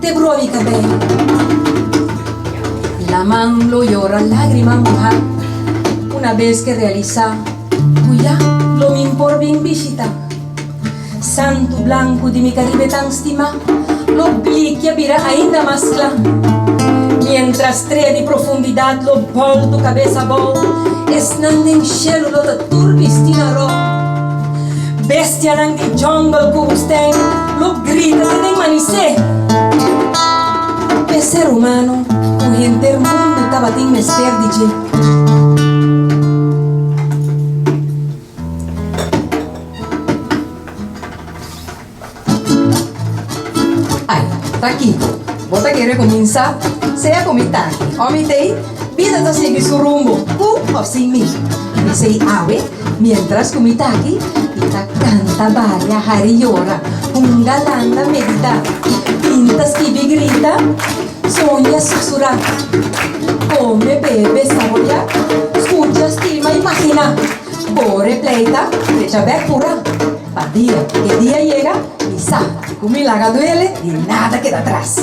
Te brobi cabello y la man lo yora lagrima moha una vez que realisa cu ya lo min por bin bishita santu blancu di mi Caribe tan stima lo blikia bira ainda mas cla mientras trea di profundidad lo boltu cabesa bao esnan den shelu lo ta tur bisti na ro. Bestianan di jungle cu wustijn lo grita ta den manisé. Pe ser humano cu henter mundu tabatin mester di dje. Ai, ta Kiko. Bo ta kere kuminsá? Sea ku mi taki ò mi tei, bida ta sigui su rumbo, ku òf sin mi. Mi sei awe, miéntras ku mi taki, i ta kanta, baila, hari yora, hunga, landa, meditá, pinta, skibi, grita, soña, susurá, kome, bebe, saboreá, skucha, stima, imaginá, kore, pleita, trecha bèk, purá. Pa dia ku e dia yega, mi sa ke ku mi laga duele, di nada keda atras.